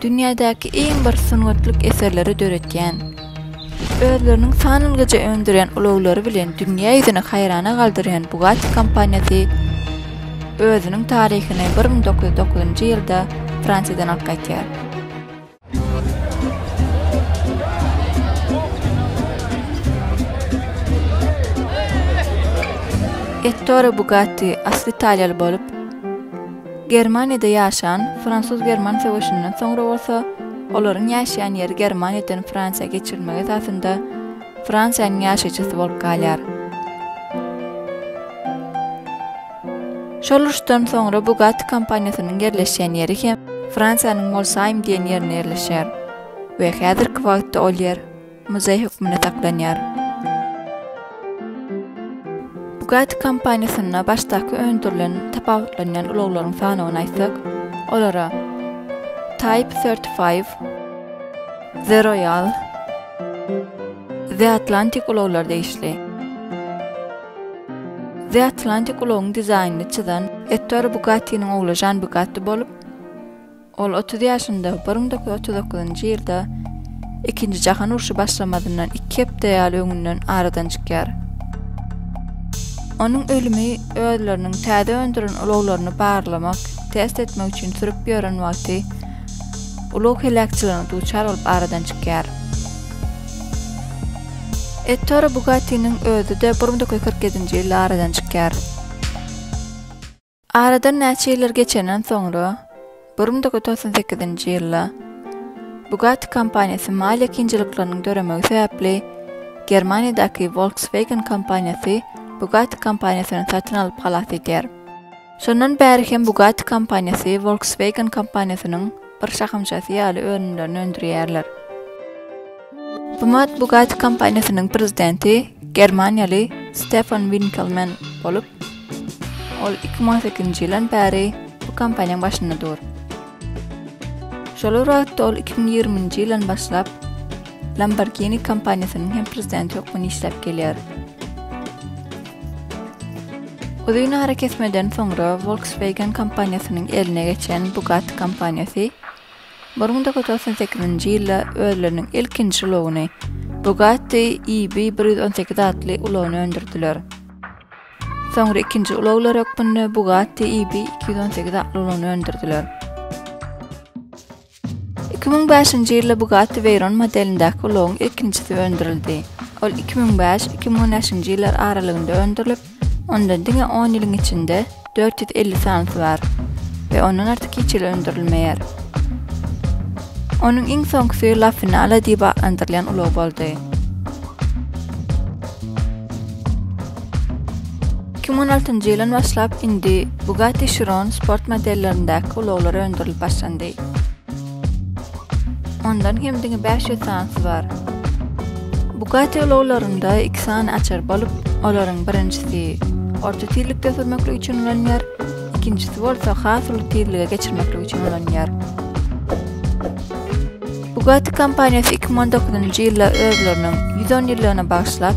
Dünýädäki iň bir sungatlyk eserleri döretýän, özleriniň sanalgyja öndürýän ulaglary bilen dünýä ýüzüni haýrana galdyrýan Bugatti kompaniýasy özüniň taryhyny bir müň dokuz ýüz dokuzynjy ýylda Fransiýadan alyp gaýdýar. Ettore Bugatti asly italiýaly bolup, Germaniýada ýaşan, fransuz-german söweşinden soňra bolsa, olaryň ýaşaýan ýeri Germaniýadan Fransiýa geçirilmegi esasynda Fransiýanyň ýaşaýjysy bolup galýar. Şol uruşdan soňra Bugatti kompaniýasynyň ýerleşýän ýeri hem Fransiýanyň Molsaim diýen ýerinde ýerleşýär we häzirki wagtda ol ýer muzeý hökmünde saklanýar. Bugatti kompaniýasynda başdaky öndürilen tapawutlanýan ulaglaryň sanawyny aýtsak, olara Type thirty five, The Royal, The Atlantic ulaglary degişli. The Atlantic ulagyň dizaýnyny çyzan Ettore Bugattiniň ogly Žan Bugatti bolup, ol 30 ýaşynda 1939-njy ýylda Ikinji jahan urşy başlamazyndan iki hepde ýaly öňünden aradan çykýar. Onuň ölümi özleriniň täze öndüren ulaglaryny barlamak, test etmek üçin sürüp ýören wagty ulag heläkçiligine duçar bolup aradan çykýar. Ettore Bugattiniň özi-de bir müň dokuz ýüz kyrk ýedinji ýylda aradan çykýar. Aradan näçe ýyllar geçenden soňra, bir müň dokuz ýüz togsan sekizinji ýylda Bugatti kompaniýasy maliýe kynçylyklarynyň döremegi sebäpli Germaniýadaky Volkswagen kompaniýasy Bugatti kompaniýasyny satyn alyp halas edýär. Şondan bäri hem Bugatti kompaniýasy Volkswagen kompaniýasynyň bir şahamçasy ýaly önümlerini öndürýärler. Bu mat Bugatti kompaniýasynyň prezidenti germaniýaly Stefan Winkelmann bolup, ol iki müň on sekizinji ýyldan bäri bu kompaniýaň başynda dur. Şol bir wagtda ol iki müň ýigriminji ýyldan başlap Lamborghini kompaniýasynyň hem prezidenti hökmünde işläp gelýär. Uzyn arakesmeden soňra Volkswagen kompaniýasynyň eline geçen Bugatti kompaniýasy bir müň dokuz ýüz togsan sekizinji ýylda özleriniň ilkinji ulagyny, Bugatti EB bir ýüz on sekiz atly ulagyny öndürdiler. Soňra ikinji ulaglar hökmünde Bugatti EB iki ýüz on sekiz atly ulagyny öndürdiler. Iki müň bäşinji ýylda Bugatti Veyron modelindäki ulagyň ilkinjisi öndürildi. Ol iki müň bäş, iki müň on bäşinji ýyllar aralygynda öndürilip, onda diňe on ýylyň içinde dört ýüz elli sanysy bar we ondan artyk hiç hili öndürilmeýär. Onuň iň soňkusy La Finale diýip atlandyrylýan ulag boldy. Iki müň on altynjy ýylyn başlap indi Bugatti Chiron sport modellerindäki ulaglar öndürilip başlandy. Ondan hem diňe bäş ýüz sanysy bar. Bugatti ulaglarynda iki sany açar bolup, olaryň birinjisi orta tizlikde sürmeklik üçin ulanylýar, ikinjisi bolsa has uly tizlige geçirmeklik üçin ulanylýar. Bugatti kompaniýasy iki müň on dokuzynjy ýylda özleriniň ýüz on ýyllygyna bagyşlap,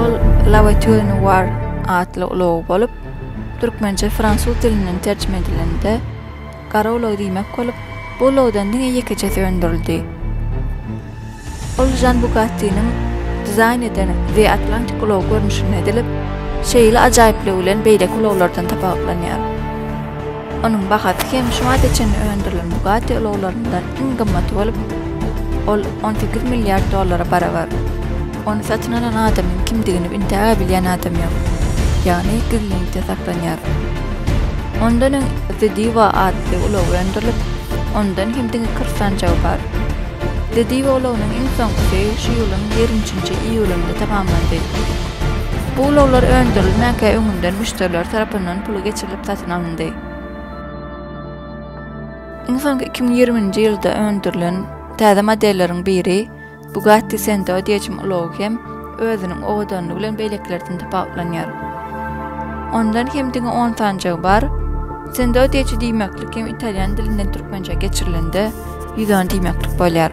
Ol Lawa Turin War atly ulag bolup, türkmençe fransuz dilinden terjime edilende, gara ulag diýmek bolup, bu ulagdan diňe ýekeçesi öndürildi. Ol Žan Bugattiniň dizaýn eden The Atlantic ulagy görnüşinde edilip, şeýle ajaýyplygy bilen beýleki ulaglardan tapawutlanýar. Onuň bahasy hem şu wagta çenli öndürilen Bugatti ulaglaryndan iň gymmaty bolup, ol on sekiz milliard dollara barabar. Ony satyn alan adamyň kimdigini entägä bilýän adam ýok, ýagny gizlinlikde saklanýar. Ondan öň The Diva atly ulag öndürilip, ondan hem diňe kyrk sanjagy bar. Didi ulagyndan iň soňkusy şu ýylyň ýigrimi üçünji iýulynda tamamlandy. Bu ulaglar öndürilmänkä öňünden müşderiler tarapyndan puly geçirilip satyn alyndy. Iň soňky iki müň ýigriminji ýylda öndürilen täze modelleriň biri Bugatti Sendo diýejm ulagy hem özüniň owadanlygy bilen beýlekilerden tapawutlanýar. Ondan hem diňe on sanjagy bar. Sendo diýji diýmeklik hem italýan dilinden türkmençä geçirilende ýüz on diýmeklik bolýar.